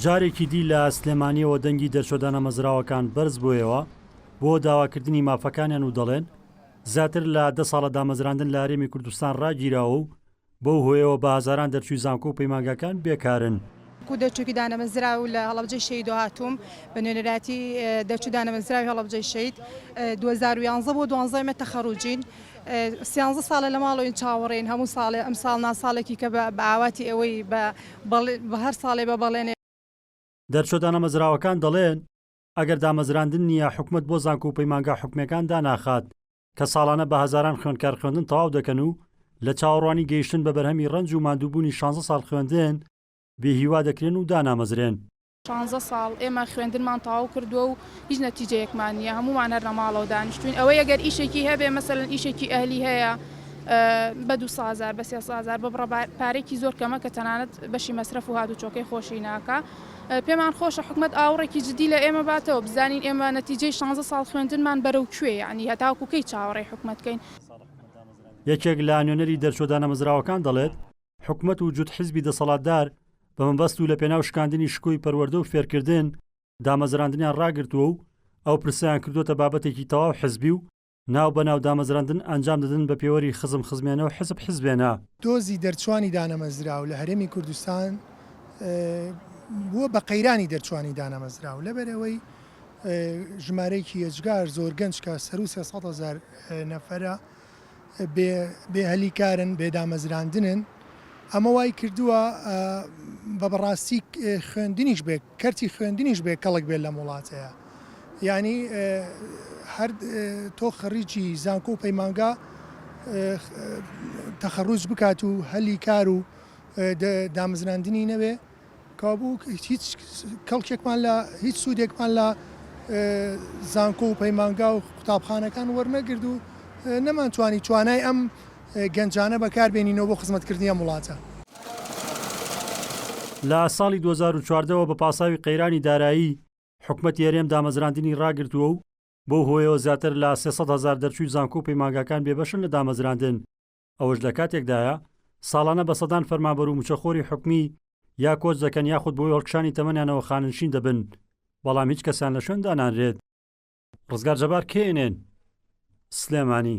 جارێکی دی لە سلێمانیەوە دەنگی دەرچوە دانەمەزراوەکان بەرز بۆیەوە بۆ داواکردنی مافەکانیان و دەڵێن زیاتر لە دە ساڵە دامەزراندن لە هەرێمی کوردستان ڕاگیراوە و بەو هۆیەوە بە هەزاران دەرچوی زانکۆ و پەیمانگاکان بێکارن. کو دەرچوکی دانەمەزرا و لە هەڵەبجەی شەیدۆ هاتووم بە نوێنەرایەتی دەرچوو دانەمەزراوی هەڵەبجەی شەید 2011 بۆ دوانزەمە تەخەروجین سیانزە ساڵە لە ماڵەوەین چاوەڕێین هەموو ساڵێ ئەمساڵ نا ساڵێکی کە بە بە ئاواتی ئێوەی بە بەڵێ بە هەر ساڵێ بە بەڵێنێ دەرچوە دانەمەزراوەکان دەڵێن ئەگەر دامەزراندن نییە حکومەت بۆ زانکۆ و پەیمانگا حکومیەکان داناخات کە ساڵانە بە هەزاران خوێندکار خوێندن تەواو دەکەن و لە چاوەڕوانی گەیشتن بە بەرهەمی ڕەنج و ماندووبوونی شانزە ساڵ خوێندن بێ هیوا دەکرێن و دانامەزرێن. شانزە ساڵ ئێمە خوێندنمان تەواو کردووە و هیچ نەتیجەیەکمان نییە، هەموومان هەر لە ماڵەوە دانیشتووین، ئەوەی ئەگەر ئیشێکی هەبێ مەسەلەن ئیشێکی ئەهلی هەیە بە دوو سەد هەزار بە سێ سەد هەزار بە بڕە پارەیەکی زۆر کەمە کە تەنانەت بەشی مەسرەف و هاتوچۆکەی خۆشی ناکا، پێمان خۆشە حکومەت ئاوڕێکی جدی لە ئێمە باتەوە بزانین ئێمە نەتیجەی شانزە ساڵ خوێندنمان بەرەو کوێ یەعنی هەتاوەکو کەی چاوەڕێی حکومەت کەین. یەکێک لە نوێنەری دەرچووە دانەمەزراوەکان دەڵێت، حکومەت و جوت حزبی دەسەڵاتدار بە مەبەست و لە پێناو شکاندنی شکۆی پەروەردە و فێرکردن، دامەزراندنیان ڕاگرتووە و ئەو پرسەیان کردۆتە بابەتێکی تەواو حزبی و ناو بە ناو دامەزراندن ئەنجام دەدن بە پێوەری خزم خزمێنە و حزب حزبێنە. دۆزی دەرچوانی دانەمەزراو لە هەرێمی کوردستان بووە بە قەیرانی دەرچوانی دانەمەزراو لەبەر ئەوەی ژمارەیەکی ئێجگار زۆر گەنج کە سەروو سێ سەد هەزار نەفەرە، بێ هەلی کارن، بێ دامەزراندنن، ئەمە وای کردووە بە بەڕاستی خوێندنیش بێ کەرتی خوێندنیش بێ کەڵک بێت لەم وڵاتەیە یعنی هەر تۆ خەڕیجی زانکۆ و پەیمانگا تەخەڕوج بکات و هەلی کار و دامەزراندنی نەوێ کابوو هیچ کەڵکێکمان لە هیچ سوودێکمان لە زانکۆ و پەیمانگا و قوتابخانەکان وەرنەگرد و نەمان توانی توانای ئەم گەنجانە بەکاربێنینەوە بۆ خزمەتکردنی ئەم وڵاتە. لە ساڵی دوو هەزار و چواردە وە بە پاساوی قەیرانی دارایی، حکومەتی هەرێم دامەزراندنی ڕاگرتووە و بەو هۆیەوە زیاتر لە سێ سەد هەزار دەرچووی زانکۆ و پەیمانگاکان بێبەشن لە دامەزراندن، ئەوەش لە کاتێکدایە ساڵانە بە سەدان فەرمانبەر و مچەخۆری حکومی یا کۆچ دەکەن یاخود بەهۆی هەڵکشانی تەمەنیانەوە خانەنشین دەبن، بەڵام هیچ کەسیان لە شوێن دانانرێت. ڕزگار جەبار، کەی، ئێن ئێن، سلێمانی.